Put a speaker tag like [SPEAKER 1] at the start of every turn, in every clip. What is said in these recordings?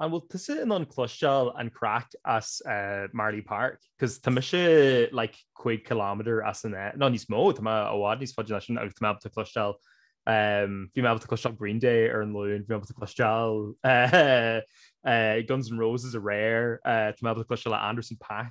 [SPEAKER 1] An bhfuil tusa in ann cloisteáil an craic as eh, Marlay Park? Cos tá mise like 5 km as an eh, nó níos mó tá mé i bhfad níos faide ná sin agus tá mé able to cloisteáil bhí mé able to cloisteáil Green Day ar an Luan, bhí mé able to cloisteáil eh, Guns N' Roses aréir, tá mé able to cloisteáil Anderson Paak.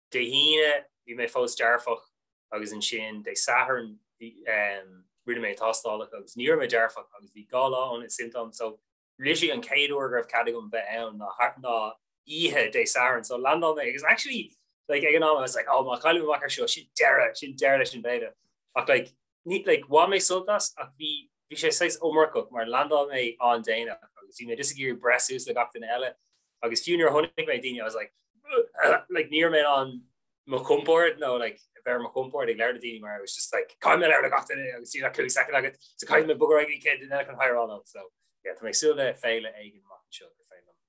[SPEAKER 2] Dé hAoine bhí mé fós dearfach agus ansin Dé Sathairn rinne mé tástálacha agus ní raibh mé dearfach agus bhí dhá lá ó na symptoms so literally an chéad uair go raibh cead agam bheith ann ná oíche Dé Sathairn so landáil mé agus actually like ag an am I was like oh má chaillim amach ar seo sin deireadh sin deireadh leis an bhféile ach like ní, like, bhain mé sult as ach bhí bhí sé saghas iomarcach mar landáil mé ann déanach agus bhí mé just ag iarraidh breith suas le gach duine eile agus fiú nuair a chonaic mé daoine I was like like ní raibh mé ar mo chompord nó like bheith ar mo chompord ag labhairt le daoine mar it was just like caithfidh mé labhairt le gach duine agus tá like cúig second agat so caithfidh mé bogadh ar aghaidh ag an céad duine eile chun hi a rá leo so yeah tá mé ag súil le féile éigin amach anseo go féile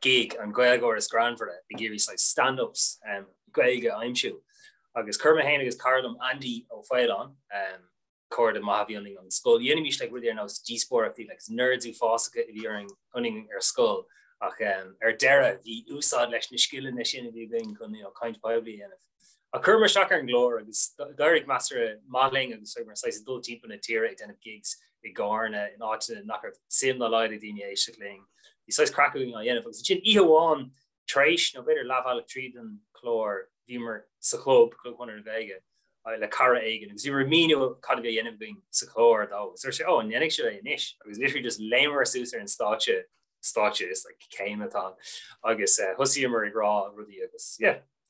[SPEAKER 2] gig an Gaeilgeoir is greannmhaire bhí ag iarraidh saghas stand-ups um, Gaeilge a aimsiú. Agus chuir mé féin agus cara liom Andy Ó Faoláin um, cairde maithe a bhí ionainn ón scoil. Dhéanaimis like rudaí ar nós díospóireachtaí like nerds uafásacha a bhí ionainn ar scoil ach um, ar deireadh bhí úsáid leis na scileanna sin a bhí againn chun you know, caint poiblí a dhéanamh. A chuireamar isteach ar an gclár agus d'éirigh measartha maith linn agus bhíomar saghas ag dul timpeall na tíre ag déanamh gigs i gCarna, in áiteanna nach raibh suim dá laghad ag daoine éisteacht linn. Bhí saghas craic againn á dhéanamh agus ansin oíche amháin tar éis, nó b'fhéidir leathbhealach tríd an clár, bhíomar sa chlub, Club Chonradh na Gaeilge, le cara éigin agus bhíomar ag míniú cad a bhí á dhéanamh againn sa chlár dó agus dúirt sé, Ó, an ndéanfaidh sibh é anois? agus literally just léimeamar suas ar an stáitse, stáitse, is like céim atá ann, agus thosaíomar ag rá rudaí agus yeah.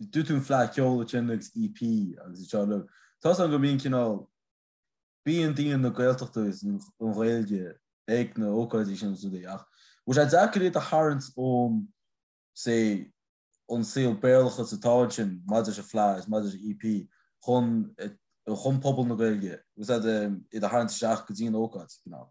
[SPEAKER 3] Dúirt tú an fleadh ceoil ansin agus EP agus iad seo uilig. Tá a fhios agam go mbíonn cineál, bíonn daoine na Gaeltachta agus an Ghaeilge ag na ócáidí sin agus rudaí ach bhfuil sé deacair iad a tharraingt ón, say, ón saol Béarlachas atá ansin maidir leis an fleadh agus maidir leis an EP chun, chun pobal na Gaeilge, tá a fhios agat, iad a tharraingt isteach go dtí an ócáid, cineál.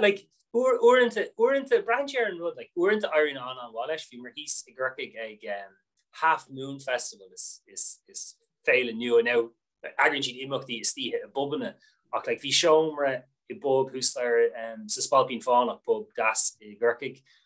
[SPEAKER 2] like uaireanta braitheann sé ar an rud like uaireanta éiríonn an-an-mhaith leis. Bhíomar thíos i gCorcaigh ag Half Moon Festival is féile nua, now eagraíonn siad imeachtaí istoíche i bpubanna ach like bhí seomra i bpub thuas staighre sa Spailpín Fánach, pub deas i gCorcaigh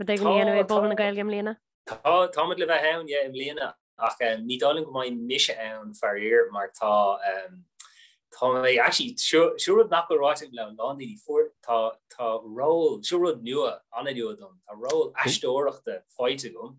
[SPEAKER 4] Rud éigin a dhéanamh ag Puball na Gaeilge i mbliana? Tá, tá muid le
[SPEAKER 2] bheith ann, yeah, i mbliana ach eh, ní dóigh liom go mbeidh mise ann faraor mar tá eh, tá mé actually seo seo rud nach bhfuil ráite agam le a lán daoine fuair tá tá ról seo rud nua an-nua dom tá ról aisteoireachta faighte agam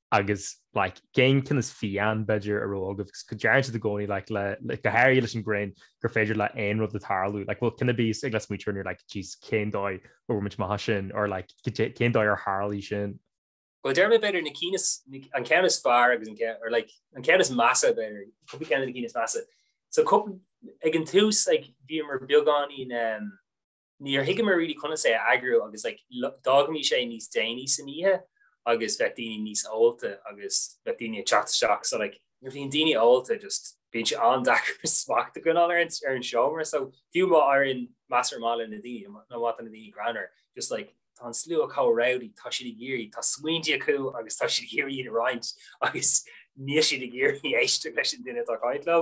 [SPEAKER 1] agus like cén ceann is fiáine b'fhéidir a raibh agaibh agus go dtarraingt siad i gcónaí like le like go háirithe leis an ngreann gur féidir le aon rud tarlú like bhfuil cinn a bhíos agaibh le smaointe air nuair like jeez cén dóigh a bhfuair muid maith sin or like cén dóigh ar tharla sin Well déarfainn b'fhéidir
[SPEAKER 2] na cinn is an ceann is fearr agus an ceann or like an ceann is measa b'fhéidir cúpla ceann na cinn is measa so cúpla ag an tús like bhíomar beagáinín um, Níor thuigeamar really conas é a eagrú agus like d'fhágaimís é níos déanaí san oíche agus bheadh daoine níos ólta agus bheadh daoine ag teacht isteach so like nuair bhíonn daoine ólta just bíonn sé an-deacair smacht a choinneáil ar an ar an seomra so fiú má tá an MC ar mhaithe leis na daoine nó má tá na daoine greannmhar just like tá an slua chomh rowdy tá siad ag iarraidh tá smaointí acu agus tá siad ag iarraidh iad a roinnt agus níl siad ag iarraidh éisteacht leis an duine atá ag caint leo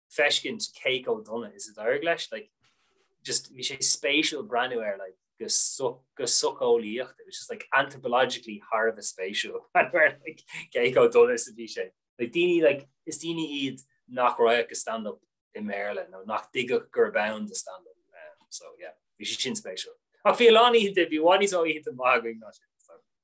[SPEAKER 2] feiscint cé go dona is a d'éirigh leis, like just bhí sé spéisiúil breathnú air like go so go socheolaíoch it was just like anthropologically thar a bheith spéisiúil like cé go dona is a bhí sé like daoine like is daoine iad nach raghadh go stand up i mBéarla nó nach dtuigfeadh gurb ann do stand up um, so yeah bhí sé sin spéisiúil ach bhí a lán oícheanta maithe ó shin an lá ná sin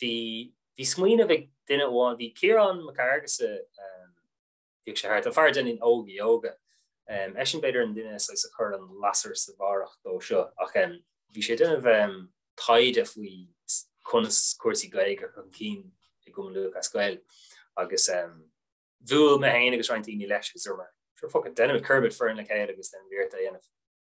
[SPEAKER 2] bhí bhí smaoineamh ag duine amháin, bhí Ciarán Mac Fhearghusa, bhíodh sé thart, an fear a dheineann Óga Yoga, eisean b'fhéidir an duine saghas a chuir an lasair sa bharrach dó so, ach bhí sé ag déanamh taighde faoi conas cúrsaí Gaeilge a chur chun cinn i gCumann Lúthchleas Gael agus bhuail mé féin agus roinnt daoine leis agus dúirt mé, sure fuck it, deinimid, cuirimid foireann le chéile agus deinimid iarracht é a dhéanamh.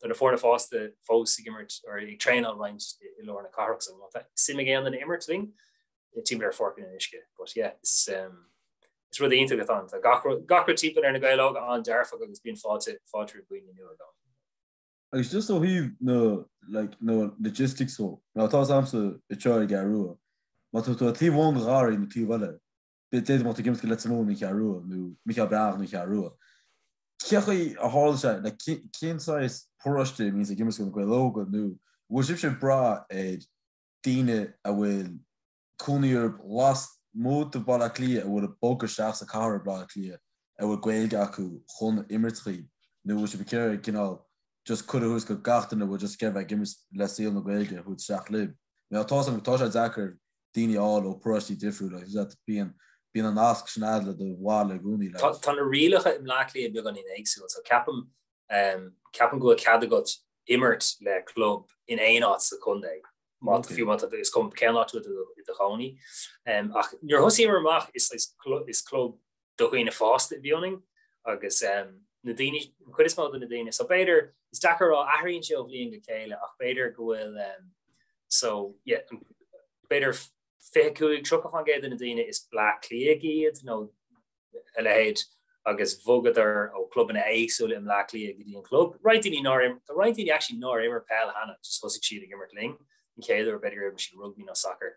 [SPEAKER 2] Tá na foirne fásta fós ag imirt, nó ag traenáil roinnt i lár na cathrach so má tá suim ag aon duine imirt linn, timpeall ar Pháirc an Fhionnuisce. But yeah, is um, is rud iontach atá ann. Tá gach rud- gach rud timpeall ar na Gaeil Óga an-dearfach agus bíonn fáilte, fáilte roimh dhaoine nua againn.
[SPEAKER 3] Agus just ó thaobh na, like, na logistics dhó, ná táimse i dTiobraid Árann. Má tá tú ag taobh amháin den sráid nó taobh eile, Bheadh muid ag imirt do Leitir Móir nó An Cheathrú Rua nó Mícheál Breathnach nó An Cheathrú Rua. Cé chaoi a tharla sé, nó cén saghas paróiste a mbíonns ag imirt do Na Gaeil Óga nó an bhfuil sibhse ag brath ar daoine a bhfuil cónaí orthu lasmuigh de Bhaile Átha Cliath a bhfuil ag bogadh isteach sa chathair i Baile Átha Cliath a bhfuil Gaeilge acu chun imirt dhaoibh nó bhfuil sibh ag iarraidh cineál just cuireadh a thabhairt do gach duine a bhfuil just ag iarraidh bheith ag imirt le saol na Gaeilge a thabhairt isteach libh? Now tá sé deacair daoine fháil ó pharóistí difriúla agus bíonn bíonn an nasc sin fós le do bhaile i gcónaí leat. Tá na rialacha i
[SPEAKER 2] mBleá Cliath beagáinín éagsúil so ceapaim ceapaim go bhfuil cead agat imirt le club in aon áit sa chontae má tá fiú má tá is cuma cén áit a bhfuil tú i do chónaí ach nuair a thosaíomar amach is is club do dhaoine fásta a bhí ionainn agus na daoine, an chuid is mó de na daoine. So b'fhéidir, is deacair a rá, athraíonn sé ó bhliain go chéile ach b'fhéidir go bhfuil so yeah, b'fhéidir 25-30% de na daoine is Bleá Cliaigh iad nó a leithéid agus bhogadar ó clubanna éagsúla i Mleá Cliaigh go dtí an club. Roinnt daoine nár roinnt daoine actually nár imir peil cheana, just thosaigh siad ag imirt linn an chéad uair b'fhéidir go raibh siad rugbaí nó sacar.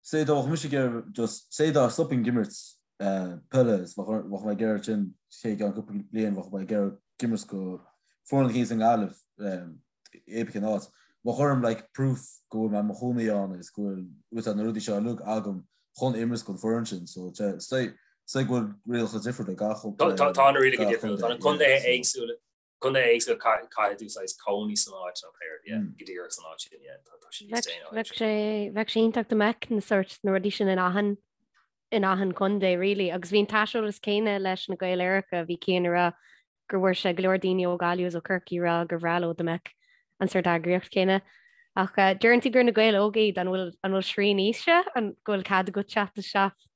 [SPEAKER 3] Sea, dá mbeadh mise just, sea, dá stopfainn ag imirt peile is bheadh mé ag iarraidh sin i gceann cúpla bliain, bheadh mé ag iarraidh imirt do foireann éicint sa nGaillimh, pé ar bith cén áit. Bheadh orm like proof go bhfuil mé i mo chónaí ann agus go bhfuil uaitheadh na rudaí seo uilig agam chun imirt don foireann sin. So, sea, sea go bhfuil rialacha difriúla ag gach contae. Tá na rialacha difriúla,
[SPEAKER 2] tá na contaetha éagsúla. Contae éagsúla caithfidh tú saghas cónaí san áit nó like go díreach san áit
[SPEAKER 4] sin Bheadh sé iontach dá mbeadh na sórt na rudaí sin in achan in achan contae really agus bíonn tá a fhios agat céanna leis na Gaeil Aeracha bhí Cian ag rá gur bhfuair sé go leor daoine ó Gaillimh is ó Corcaigh ag rá gur bhreá leo dá mbeadh an sórt eagraíocht céanna. Ach deireann tú gur na Gaeil Óga iad an bhfuil an bhfuil srian aoise ann go bhfuil cead agat teacht isteach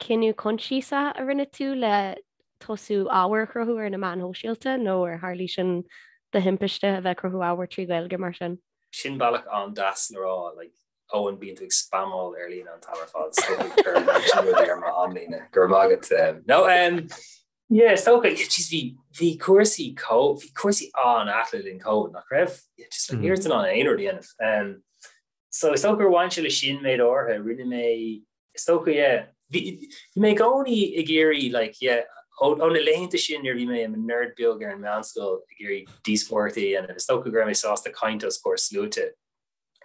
[SPEAKER 4] cinneadh coinsiasach a rinne tú le tosú ábhar a chruthú ar na meáin shóisialta nó ar tharla sé sin de thimpiste a bheith ag cruthú ábhar trí Ghaeilge mar sin? Sin bealach
[SPEAKER 2] an-deas le rá, like, Eoin bíonn tú ag spamáil ar líne an t-am ar fad, is dócha gur ar thug tú rudaí ar mo amlíne, go raibh maith agat. No, em, yeah, is dócha, yeah, jeez, bhí, bhí cúrsaí có, bhí cúrsaí an-ait le linn Covid, nach raibh? Yeah, just like, níor fhéad éinne aon rud a dhéanamh. Em, So is dócha gur bhain sé le sin, méid áirithe. Rinne mé, is dócha, yeah. Bhí mé i gcónaí ag iarraidh, like, yeah, ó na laethanta sin nuair a bhí mé i mo nerd beag ar an meánscoil ag iarraidh díospóireachtaí a dhéanamh, is dócha go raibh mé sásta caint os comhair sluaite.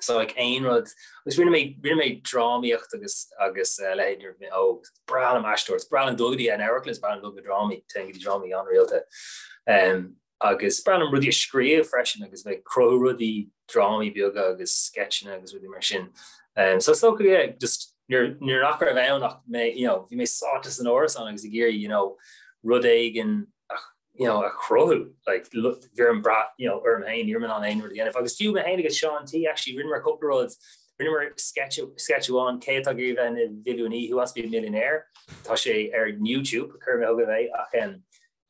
[SPEAKER 2] So like aon rud, agus rinne mé, rinne mé drámaíocht agus, agus a leithéid nuair a bhí mé óg. Breá liom aisteoireacht, is breá liom dul go dtí an amharclann, is breá liom dul go na drámaí, téim go dtí drámaí an-rialta. Um. agus is breá liom rudaí a scríobh freisin agus bheith ag cruthú rudaí, drámaí beaga agus sceitseanna agus rudaí mar sin. Um, so is dócha yeah, just nuair nuair nach raibh ann ach mé, you know, bhí mé sáite san árasán agus ag iarraidh, you know, rud éigean you know, a chruthú like, bhí an brú you know, orm féin ní an aon rud dhéanamh agus fiú mé féin agus Seán T actually rinneamar cúpla rud rinneamar sketchúán cé atá ag iarraidh bheith ina mhilliúnaí who wants to be a millionaire tá sé ar YouTube chur mé thug a bheith ach um,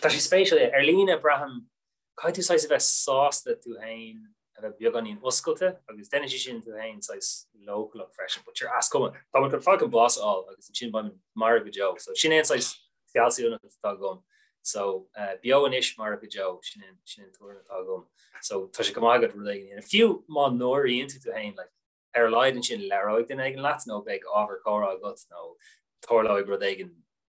[SPEAKER 2] Tá sé spéisiúil, ar líne, braithim, caithfidh tú saghas a bheith sásta tú fhéin a bheith beagáinín oscailte agus déanann sé sin tú fhéin saghas leochaileach freisin, but sure, is cuma. Tá mé chun fuckin' bás a fháil agus ansin beidh mé marbh go deo, so sin é an saghas fealsúnacht atá agam. So, beo anois, marbh go deo, sin é, sin é an tuairim atá agam. So, tá sé go maith agat rud éigin a dhéanamh, fiú má náiríonn tú tú fhéin, like, ar a laghad ansin, labhróidh duine éigin leat nó beidh ábhar comhrá agat nó tarlóidh rud éigin.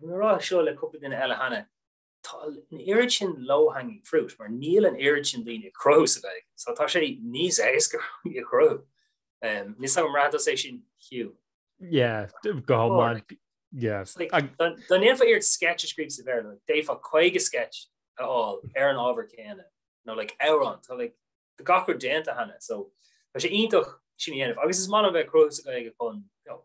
[SPEAKER 2] Bhí mé ag rá seo le cúpla duine eile cheana, tá an oiread sin low-hanging fruit mar níl an oiread sin daoine ag cruthú sa Ghaeilge, so tá sé níos éasca rudaí a chruthú. Níl a fhios agam ar bhraith tusa é sin, Hugh? Yeah,
[SPEAKER 1] go hiomlán, yeah.
[SPEAKER 2] Dá ndéanfá iarracht sketch a scríobh sa Bhéarla, d'fhéadfá 50 sketch a fháil ar an ábhar céanna, nó like amhrán, tá like tá gach rud déanta cheana, so tá sé iontach sin a dhéanamh. Agus is maith liom bheith ag cruthú sa Ghaeilge chun, you know,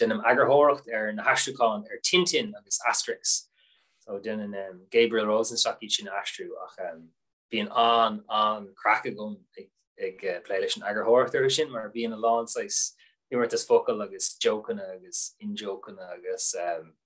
[SPEAKER 2] Deinim eagarthóireacht ar na haistriúcháin ar Tintin agus Asterix. So déanann um, Gabriel Rosenstock iad sin a aistriú ach um, bíonn an an-chraic agam ag, ag uh, plé leis an eagarthóireacht orthu sin mar bíonn a lán saghas imeartas focal agus jokeanna agus in-jokeanna agus um,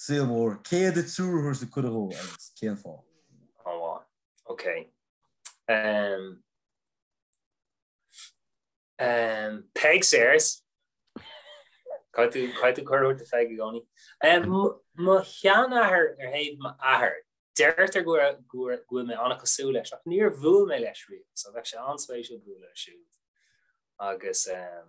[SPEAKER 3] Saol mór. Cén triúr a thabharfá cuireadh dhó agus cén fáth? An
[SPEAKER 2] bhán. Ok. Em. Em. Peig Sayers. Caithfidh tú caithfidh tú cuireadh a thabhairt do Pheig i gcónaí. Em, mo sheanathair ar thaobh m'athair. Deirtear go raibh- go raibh- go bhfuil mé ana-chosúil leis ach níor bhuail mé leis riamh so bheadh sé an-spéisiúil bualadh leis siúd. Agus em,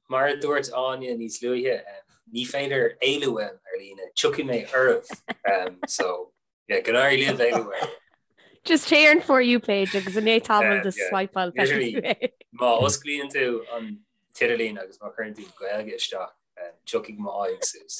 [SPEAKER 1] Mar
[SPEAKER 2] a dúirt Áine níos luaithe, ní féidir éalú uaim ar líne, tiocfaidh mé oraibh. So yeah, go n-éirí libh éalú uaim. Just
[SPEAKER 4] téigh ar an For You page agus i ndiaidh tamall de swipeáil
[SPEAKER 2] Má osclaíonn tú an t-idirlíon agus má chuireann tú Gaeilge isteach, tiocfaidh m'aghaidh suas.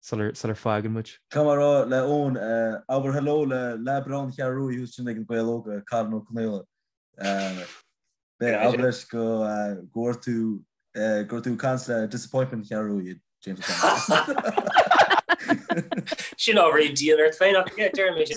[SPEAKER 1] sular sular fhágann muid. Caithfidh mé a rá le
[SPEAKER 3] Eoin, abair hello le Lea Brown Cheathrú Rua thuas ansin ag Na Gaeil Óga, Cathal Ó Conaola. Beidh a fhad leis go go bhfuair tú go bhfuair tú cans le disappointment Cheathrú Rua i James
[SPEAKER 2] O'Connor. Sin ábhar a bhí dian ort féin ach yeah deirim é sin.